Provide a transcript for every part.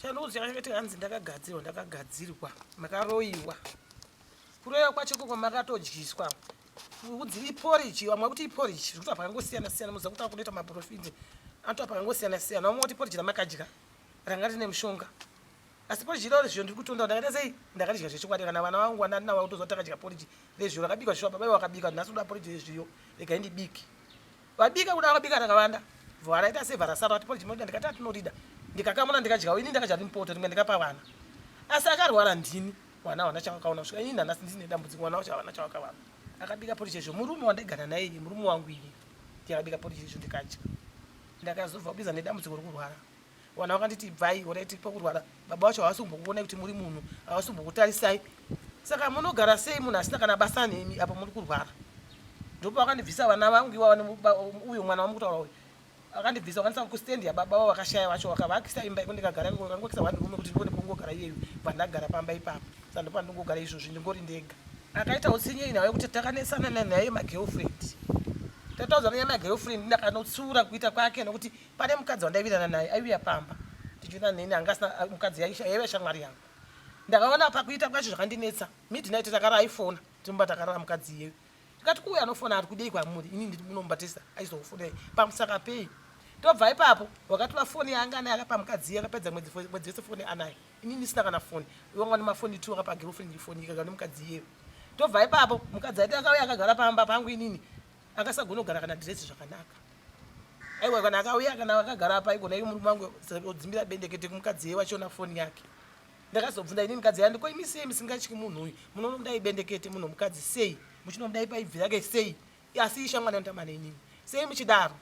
Shanduzi yakati hanzi ndakagadzirwa ndakagadzirwa makaroiwa kuroiwa kwacho koko makatodyiswa udzi iporiji vamwe kuti iporiji zvikuti apakangosiyana siyana muziva kuti akunoita maprofiti anoto apakangosiyana siyana vamwe kuti iporiji ramakadya ranga rine mushonga asi poriji iroro zviyo ndiri kutonda ndakaita sei ndakadya zvechokwadi kana vana vangu vana ndinavo kutoziva kuti takadya poriji rezviyo rakabikwa zvisho baba vakabika nhasi kuda poriji rezviyo rega indibiki Vabika kuda vakabika rakavanda. Vara ita sevara sara vati pole chimodida ndikati atinodida. Ndikakamuna ndikadyawo ini ndakadya rimpoto rimwe ndikapa vana. Asi akarwara ndini vana vana chakakaona kusvika ini nanasi ndine dambudziko vana vacho havana chakakawana. Akabika pole chezvo murume wandaigara naye iye murume wangu iye. Ndiyakabika pole chezvo ndikadya. Ndakazobva kubiza nedambudziko rekurwara. Vana vakanditi ibvai gore tiri pakurwara baba vacho havasi kumbokuonai kuti muri munhu havasi kumbokutarisai saka munogara sei munhu asina kana basa nemi apo muri kurwara ndopavakandibvisa vana vangu iwauyo mwana wamukutaura uyu akandibvisa vakanisa kustendi yababa vavo vakashaya vacho vakavakisa imba iko ndikagara iko vakangokisa one rume kuti ndivone pongogara iyeyu pandagara pamba ipapo sa ndopandingogara izvozvi ndingori ndega akaita utsinye inhau yekuti takanesana nanaye magirlfriend tataudza nanyaya magirlfriend ndakanotsiura kuita kwake nokuti Pane mukadzi wandaivirana naye aiuya pamba tichiona neni anga asina ah, mukadzi yaive shamwari yangu ndakaona pakuita kwacho zvakandinetsa midnight takara aifona timba takarara mukadzi iyeyo tikati kuuya anofona ari kudei kwamuri ini ndiri munomubatisa aizofonei pamusaka pei tobva ipapo wakatora foni yaanga anaye akapa mukadzi iye akapedza mwedzi mwedzi yese foni anaye ini ndisina kana foni iwanga ni mafoni two akapa girlfriend foni ikagara nemukadzi iyeyo tobva ipapo mukadzi aiti akauya akagara pamba pangu inini akasagonogara kana dress zvakanaka aiwa kana akauya kana akagara apa igona iri murume wangu odzimbira bendekete kumukadzi ye wachiona foni yake ndakazobvunza ini mukadzi yandi ko imi sei musingatyi munhu uyu munonomudai bendekete munhu mukadzi sei muchinomudai paibvi rake sei asi ishamwana yotamana inini sei muchidaro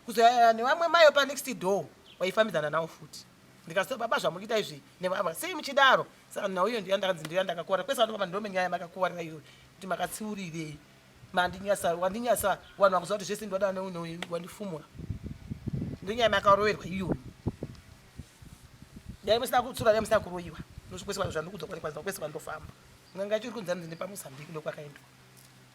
kuzoyaya nevamwe mayo panext door waifambidzana nawo futi ndikasoo baba zvamukuita izvi nevava sei muchidaro saka nhau iyo ndiyandakanzi ndiya ndakakuvara kwese vanobaba ndiro menyaya makakuvarira iyo kuti makatsiurirei mandinyasa wandinyasa vanhu vakuziva kuti zvese ndivada neunoi wandifumura ndenyaya makaroverwa iyoyo dai musina kutsura dai musina kuroyiwa ndosvikwese vanhu zvandikudzwa kwanikwanisa kwese kwandofamba nganga chiri kunzi hanzi ndepamozambique ndokwakaendwa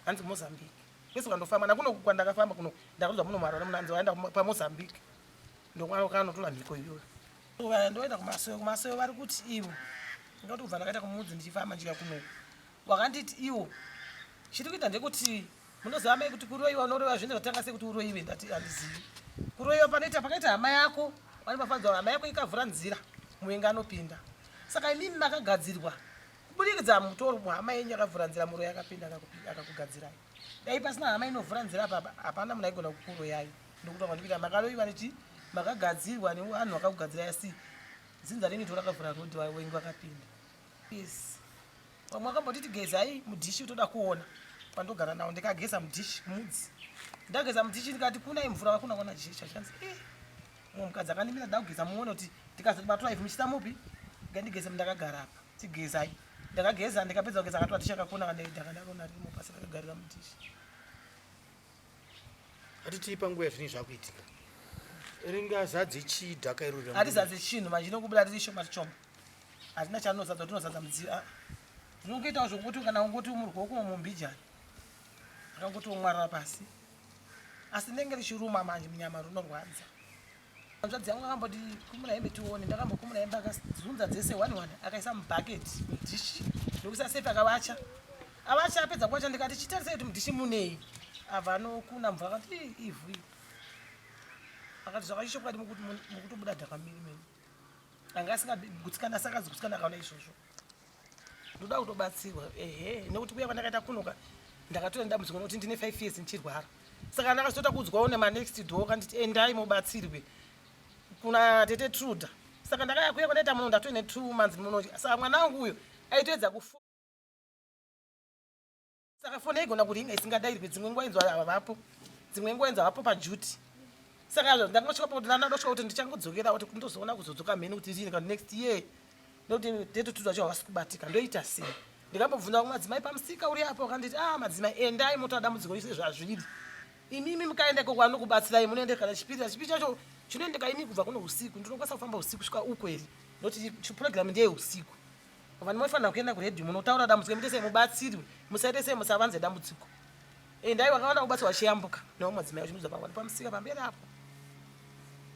hanzi mozambique kwese kwandofamba nakuno kwandakafamba kuno ndakuzwa muno mwarwara muno hanzi waenda pamozambique ndokwakanotora mhiko iyoyo ndoenda kumasoyo kumasoyo vari kuti ivo ndoti kubva ndakaita kumudzi ndichifamba ndika kuno wakanditi iwo chiri kuita ndekuti munoziva mai kuti kuroiwa unoroiwa zvinhu zvatanga sekuti uroiwe ndati handizivi kuroiwa panoita pakaita hama yako pane pafanzwa hama yako ikavhura nzira muvenga anopinda saka imimi makagadzirwa kuburikidza mutoro hama yenyu yakavhura nzira muroi akapinda akakugadzirai dai pasina hama inovhura nzira papa hapana munhu aigona kukuroyai ndokuti wakandikuita makaroiwa nechi makagadzirwa nevanhu vakakugadzirai asi dzinza renyu torakavhura rodi wengi vakapinda Yes. Vamwe vakambotiti gezai mudhishi utoda kuona pandogara nawo ndikageza mudhishi mudzi ndageza mudhishi ndikati kuna imvura vakuna kuona dhishi chachanzi eh mumwe mukadzi akandimira ndakugeza muone kuti ndikazoti batwa ivi muchita mupi ngandigeze mndakagara apa tigezai ndakageza ndikapedza kugeza akatwa dhishi akakuna kandakandarona rimo pasi ndakagarira mudhishi hatitii panguva yazvini zvakuitika ringazadze chii dhaka irori hatizadze chinhu manje inokubuda riri shoma tichoma Hazvina charinozadza tinozadza mudziyo. Ah. Zvinongoitawo zvokuti kana ungoti umurwa wokumwa mumbijani. Akangoti womwarira pasi. Asi ndenge richiruma manje munyama runorwadza. Hanzvadzi yangu akamboti kumura hembe tione ndakambokumura hembe akazunza dzese one one akaisa mubucket mudhishi ndokuisa sefi akavacha avacha apedza kuvacha ndikati chitarisei kuti mudhishi munei abva anokuna mvura akati ivhu akati zvakachishokwadi mukutobuda dhakamiri mene anga asingagutsikana saka zigutsikana akaona izvozvo ndoda kutobatsirwa ehe nekuti kuya kwandakaita kunoka ndakatona ndamuzikana kuti ndine five years ndichirwara saka ndakazotota kuudzwawo nemanext door kanditi endai mubatsirwe kuna tete truda saka ndakaya kuya kwandaita muno ndatoine two months muno saka mwana wangu uyo aitoedza kufu saka foni yaigona kuringa isingadairwe dzimwe nguva inzwa havapo dzimwe nguva inzwa havapo pajuti saka ndakangosvika pakuti nana ndosvika kuti ndichangodzokera kuti ndozoona kuzodzoka mheni kuti zii kana next year ndokuti date tudzo acho havasi kubatika ndoita sei ndikambobvunza kumwe madzimai pamusika uri apo akanditi a ah, madzimai endai motora dambudziko ise zvazviri imimi mukaenda ikoko anokubatsirai munoenda kana chipiri chipiri chacho chinoendeka imi kubva kuno usiku ndinokwanisa kufamba usiku svika uko here ndokuti program ndeye usiku vanhu mofanira kuenda kuredhi munotaura dambudziko muite sei mubatsirwe musaite sei musavanze dambudziko endai vakawana kubatsirwa chiyambuka navo madzimai vachimudza pavani pamusika pamberi apo